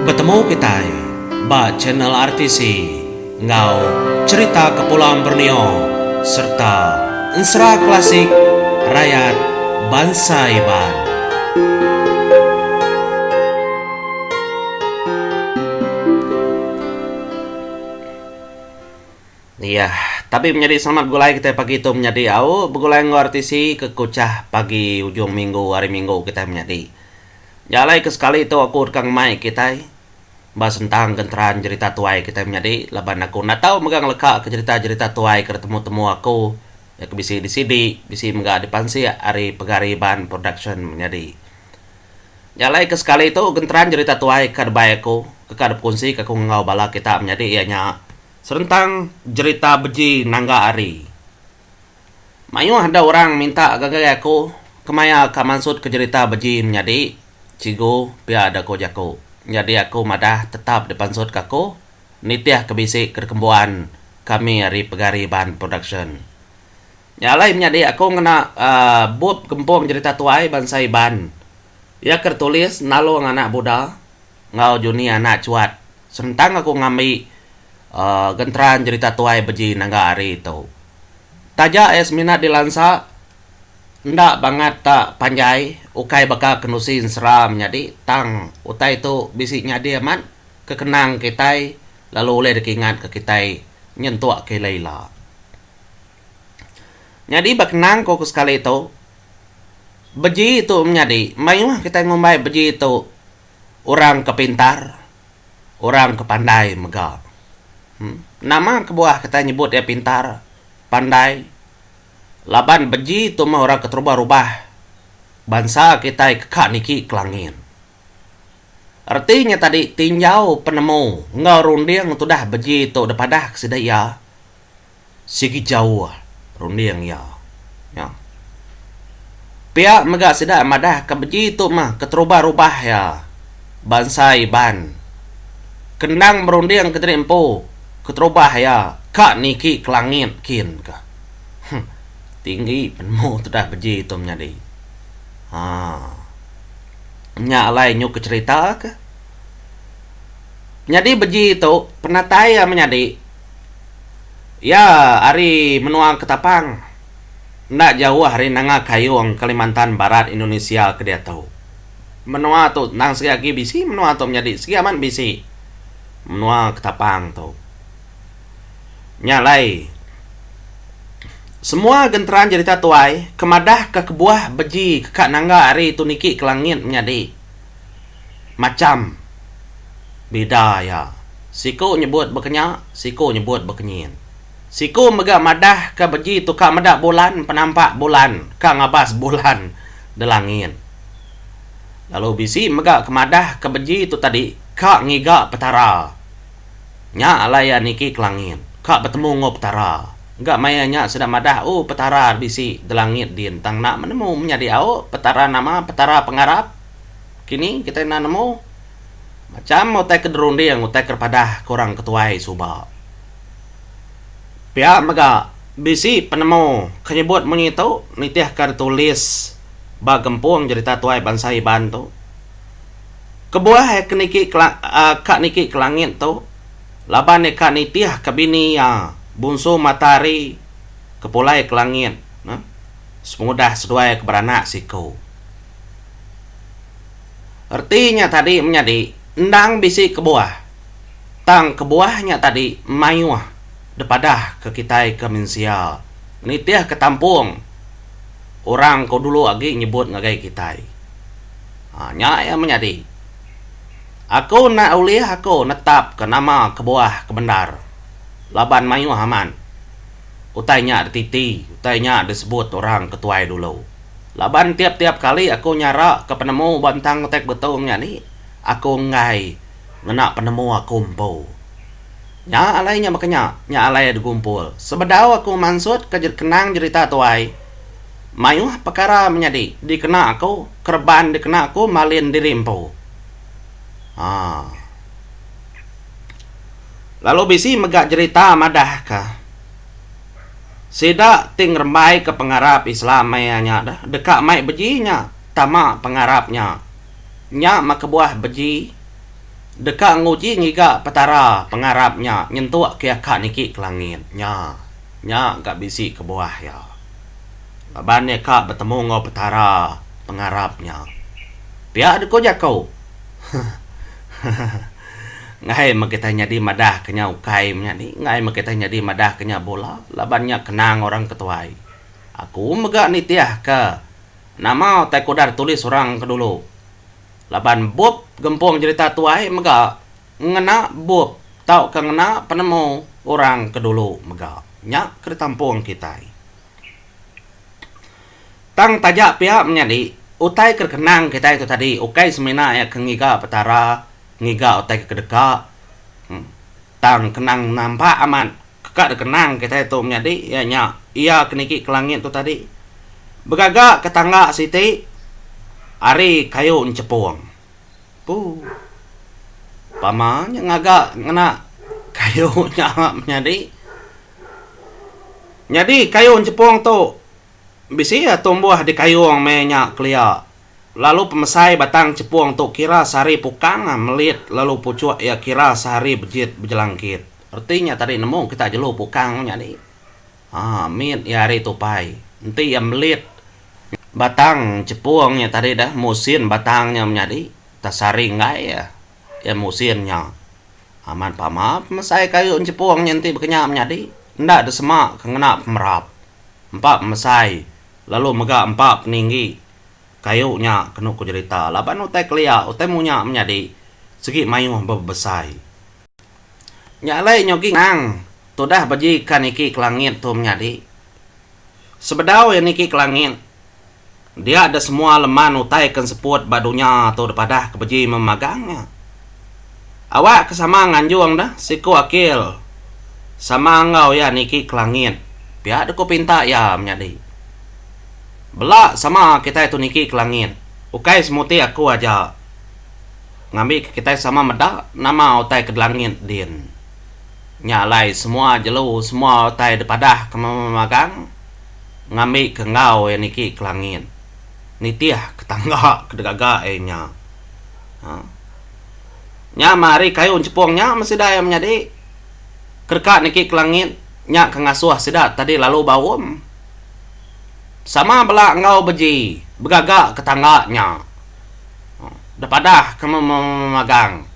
Betemu kitai ba channel RTC enggau cherita kepulang Borneo sereta ensera klasik rayat bansa Iban. Iya, tapi menyadi selamat begulai kitai pagi tu menyadi au begulai enggau RTC ke Kuchah pagi ujung minggu hari minggu kitai menyadi. Nya alai ke sekali tu aku deka ngemai kitai ba sentang genteran jerita tuai kitai menyadi laban aku enda tau mega ngelekaka jerita-jerita tuai ke ditemu-temu aku iya ke bisi di CD bisi mega dipansik ari Pegari Iban Production menyadi. Nya alai ke sekali tu genteran jerita tuai ka dibai aku ke ka dipekunsi ka aku enggau bala kita menyadi iya nya Serentang jerita beji nangga ari. Mayuh da orang minta gagai aku kemaya ka mansutka jerita beji menyadi cikgu pia da ko jaku. Nyadi aku madah tetap dipansutka aku nitihka bisi ke dikembuan kami ari Pegari Band Production. Nya alai menyadi aku ngena uhh bup gempung jerita tuai bansa Iban Iya ke tulis nalung anak buda enggau juni anak chuat senentang aku ngambi genteran jerita tuai beji naga hari tu. Taja iya semina dilansa enda bangat ta panjai ukai baka kenusi ensera menyadi tang utai tu bisi nyadi amat kekenang kitai lalu ulih dikingatka kitai nyentuk ke ila-ila. Nyadi ba kenang ku ke sekali tu. beji tu menyadi mayuh kitai ngumbai beji tu orang ke pintar orang ke pandai mega em nama kebuah kitai nyebut iya pintar pandai laban beji tu meh orang ke terubah rubah bansa kitai ke ka niki ke langit reti nya tadi tinjau penemu enggau runding tudah beji tu dipadah ke sida iya Sigi jauh runding iya nya. Pia mega sida madahka beji tu mah keterubah-rubah iya bansa Iban. Kendang berunding ke diri empu keterubah iya ka niki ke langit kin ka. Huh tinggi penemu tudah beji tu menyadi. Haa. Nya alai nyuka cherita ka. Nyadi beji tu penatai iya menyadi. Iya ari menua Ketapang, enda jauh ari Nanga Kayong, Kalimantan Barat, Indonesia ke diatu. Menua tu tang sigi agi bisi menua tu menyadi sigi amat bisi menua Ketapang tu. Nya alai semua genteran jerita tuai ke madahka kebuah beji ke ka nangga ari tu niki ke langit menyadi. Macham bida iya. Siku nyebut bekenya, siku nyebut bekenyin. Siku mega madah ke beji tu ka meda bulan, penampak bulan ka ngabas bulan delangit. Lalu bisi mega ke madah ke beji tu tadi ka ngiga Petara. Nya alai iya niki ke langit, ka betemu enggau Petara. Ga maya nya sida madah, O Petara da bisi da langit din, tang enda menemu menyadi au Petara nama Petara pengarap kini kitai enda nemu. Macham utai ke dirunding, utai ke dipadah ke orang ketuai suba. Pia mega, bisi penemu ke nyebut munyi tu nitihka ditulis ba Gempung Jerita Tuai Bansa Iban tu. Kebuah iya ke niki ka niki ke langit tu, laban iya ka nitih ka bini iya bunsu matahari ke pulai ke langit ne sepengudah seduai ke beranak siku. Reti nya tadi menyadi endang bisi kebuah, tang kebuah nya tadi mayuh dipadah ke kitai ke mensia nitih ka tampung orang ko dulu agi nyebut ngagai kitai. Ha nya iya menyadi. Aku enda ulih aku netapka nama kebuah ke bendar laban mayuh amat utai nya dititi, utai nya disebut orang ke tuai dulu. Laban tiap-tiap kali aku nyaraka penemu ba entang utai ke betung nya ni, aku enggai ngena penemu aku empu. Nya alai nya baka nya, nya alai digumpul. Sebedau aku mansutka kenang jerita tuai. Mayuh pekara menyadi dikena aku kereban dikena aku malin diri empu. Haa. Lalu bisi mega jerita madahka sida ti ngerembaika pengarap Islam maya nya deka mai beji nya tama pengarap nya nya meh kebuah beji deka nguji ngiga Petara pengarap nya nyentuk ke aka niki ke langit. Nya nya ga bisi kebuah iya. laban iya ka betemu enggau Petara pengarap nya. Pia dku jaku. Enggai meh kitai nyadi madah ke nya ukai menya ni, enggai meh kitai nyadi madah ke nya bula laban nya kenang orang ke tuai. Aku mega nitih ke nama utai ku udah ditulis orang ke dulu laban bup gempung jerita tuai mega ngena bup tauka ngena penemu orang ke dulu mega nya ke ditampung kitai. Tang taja pia menyadi, utai ke dikenang kitai tu tadi ukai semina iya ke ngiga Petara, ngiga utai ke kedeka, tang kenang nampak amat ke ka dikenang kitai tu menyadi iya nya Iya ke niki ke langit tu tadi begaga ke tangga siti ari kayu nyepung. Pu. Pama nya ngaga ngena kayu nya menyadi. Nyadi kayu nyepung tu bisi iya tumbuh dikayung meh nya kelia. Lalu pemesai batang nyepung tu kira sehari pukang melit lalu puchuk iya kira sehari bejit bejelangkit. Reti nya tadi nemu kita jelu pukang menyadi. Haa mit iya ari tupai. Enti iya melit batang chepung nya tadi dah musin batang nya menyadi tasari enggai iya iya musin nya. Amat pama pemesai kayu enchepung nya enti bakanya menyadi enda desema ke ngena pemerap. Empa pemesai lalu mega empa peninggi kayu nya kenu ku jerita laban utai kelia utai munya menyadi segi mayuh bebesai. Nya alai nyogi ngenang tudah beji ka niki ke langit tu menyadi. Sebedau iya niki ke langit, dia da semua leman utai ke enseput ba dunya tu dipadah ke beji meh magang nya. Awak ke sama nganjung deh siku akil sama enggau iya niki ke langit pia da ku pinta iya menyadi. Bela sama kitai tu niki ke langit, ukai semuti aku aja. Ngambika kitai sama meda nama utai ke dilangit din. Nya alai semua jelu semua utai dipadah ke memagang ngambika enggau iya niki ke langit. Nitih ke tangga ke digaga iya nya. Haa. Nya meh ari kayu enchepung nya meh sida iya menyadi. Kedeka niki ke langit nya ke ngasuh sida tadi lalu baum. Sama bela enggau beji begaga ke tangga nya. Da padah ke memagang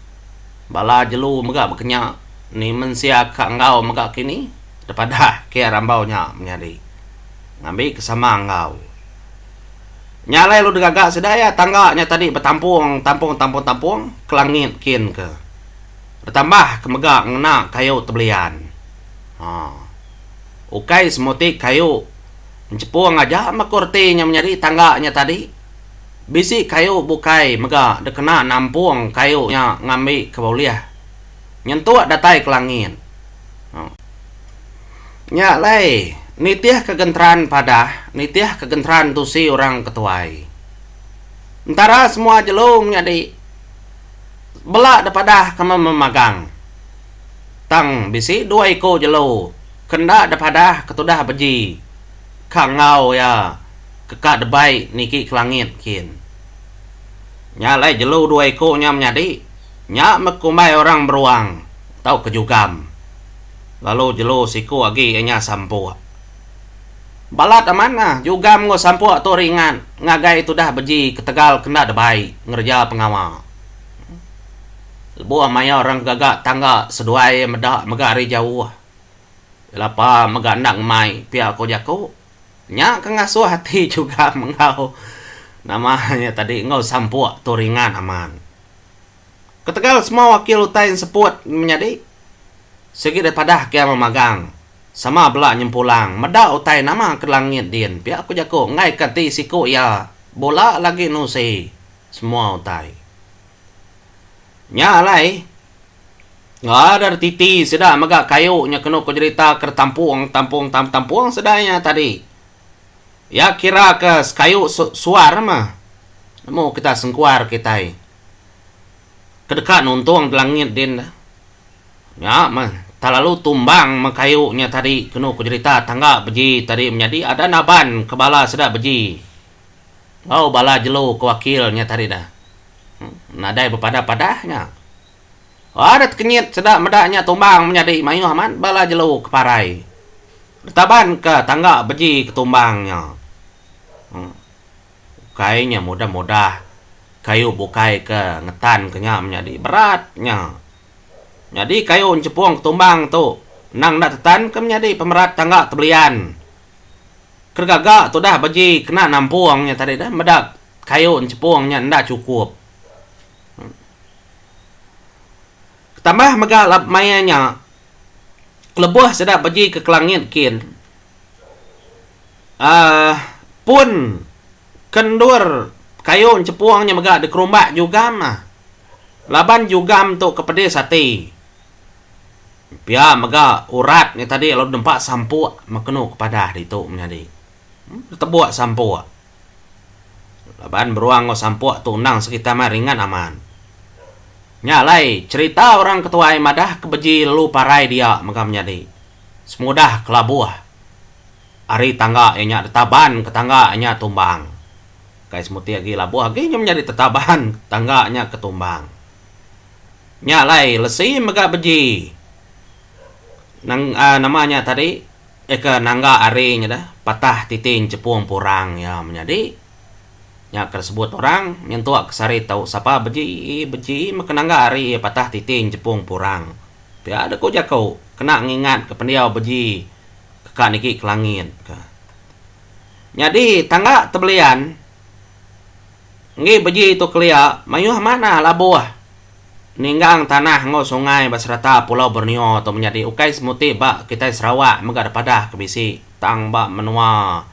bala jelu mega bekenya ni mensia ka enggau mega kini da padah kia rambau nya menyadi ngambi ke sama enggau nya alai lu degaga sida iya tangga nya tadi betampung tampung tampung tampung ke langit kin ke betambah ke mega ngena kayu ti belian um ukai semua ti kayu enchepung aja meh ku reti nya menyadi tangga nya tadi. Bisi kayu bukai mega dikena nampung kayu nya ngambi ke bulih nyentuk datai ke langit. Nya alai nitih ke genteran padah nitih ke genteran tusi orang ke tuai. Entara semua jelu menyadi bela depadah ke memagang tang bisi dua iku jelu ke enda depadah ke tudah beji. ka enggau iya ke ka debai niki ke langit kin. Nya alai jelu dua iku nya menyadi, nya meh kumbai orang beruang tauka jugam. Lalu jelu siku agi iya nya sampuk. Balat amatnya jugam enggau sampuk tu ringat ngagai tudah beji ketegal ke enda debai ngereja pengawa. Lebuh maya orang ke gaga tangga seduai meda mega ari jauh. Lapa mega enda ngemai pia ko jaku. Nya ke ngasuh ati juga menggau nama nya tadi enggau sampuk tu ringan amat. Ketegal semua wakil utai enseput menyadi sigi deh padah ke ama magang sama bela nyempulang meda utai nama ke langit din pia ko jaku enggai ke ati siku iya bula lagi nusi semua utai. Nya alai. Ngader titi sida mega kayu nya kenu ku jerita ke ditampung tampung tam tampung sida nya tadi. Iya kira ke sekayu su suar mah. Nemu kita sengkuar kitai. Ke deka nuntung di langit din da. Nya mah telalu tumbang meh kayu nya tadi kenu ku jerita tangga beji tadi menyadi ada naban ke bala sida beji. Enggau bala jelu ke wakil nya tadi dah nadai bepadah-padah nya. Wah deh tekenyit seda meda nya tumbang menyadi mayuh amat bala jelu ke parai ditabanka tangga beji ke tumbang nya. Em ukai nya mudah-mudah kayu bukai ke ngetanka nya menyadi berat nya. Nyadi kayu nyepong ke tumbang tu endang enda tetanka menyadi pemerat tangga tebelian. Keregaga tu dah beji kena nampung nya tadi dah meda kayu enchepung nya enda chukup. Tambah mega maya nya lebuh sida beji ke kelangit kin aah pun ke endur kayu enchepung nya mega dikerumba jugam ah. Laban jugam tu ke pedis ati. Pia mega urat nya tadi lalu nempa sampuk mekenu kepadah ditu menyadi. Tebuk sampuk. Laban beruang enggau sampuk tu endang sekitar meh ringat amat. Nya alai cherita orang ke tuai madah ke beji lalu parai dia mega menyadi. Semudah kelabuh ari tangga iya nya ditaban ke tangga iya nya tumbang. Kai semuti agi labuh agi nya menyadi tetaban tangga nya ke tumbang. Nya alai lesi mega beji nang aa nama nya tadi eka nangga ari nya deh patah titi enchepung purang iya menyadi nya ke sebut orang nyentuk ke sari tau sapa beji beji meka nangga ari iya patah titi enchepung purang pia deh ku jaku kena ngingat ke pendiau beji ka nigi ke langit ka. Nyadi tangga tebelian. Enggi beji tu kelia mayuh manah labuh ninggang tanah enggau sungai ba serata Pulau Borneo tu menyadi ukai semuti ba kitai Sarawak mega depadah ke bisi tang ba menua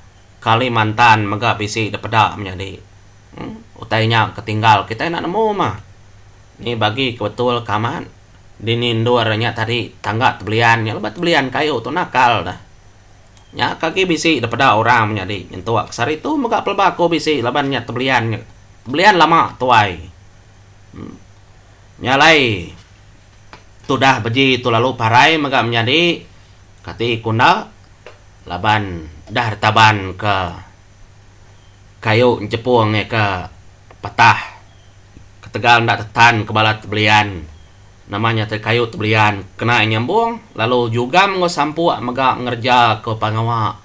Kalimantan mega bisi depeda menyadi. Utai nya ke tinggal kitai enda nemu mah. Ni bagi ke betul ke amat dini endur nya tadi tangga tebelian nya lebuh tebelian kayu tu nakal dah. Nya ka agi bisi da peda orang menyadi nyentuk sehari tu mega pelba aku bisi laban nya tebelian nya tebelian lama tuai. Um nya alai tudah beji tu lalu parai mega menyadi kati ku enda laban dah ditaban ke kayu nyepung iya ke patah ketegal enda tetan ke bala tebelian. Nama nyata kayu tu belian kena nyambung lalu jugam enggau sampuk mega ngereja ke pengawa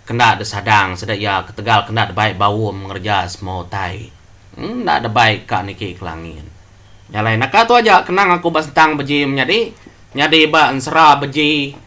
ke enda disadang sida iya ketegal ke enda dibai baum ngereja semua utai enda dibai ka niki ke langit. Nya alai naka tu aja kenang aku ba sentang beji menyadi nyadi ba ensera beji.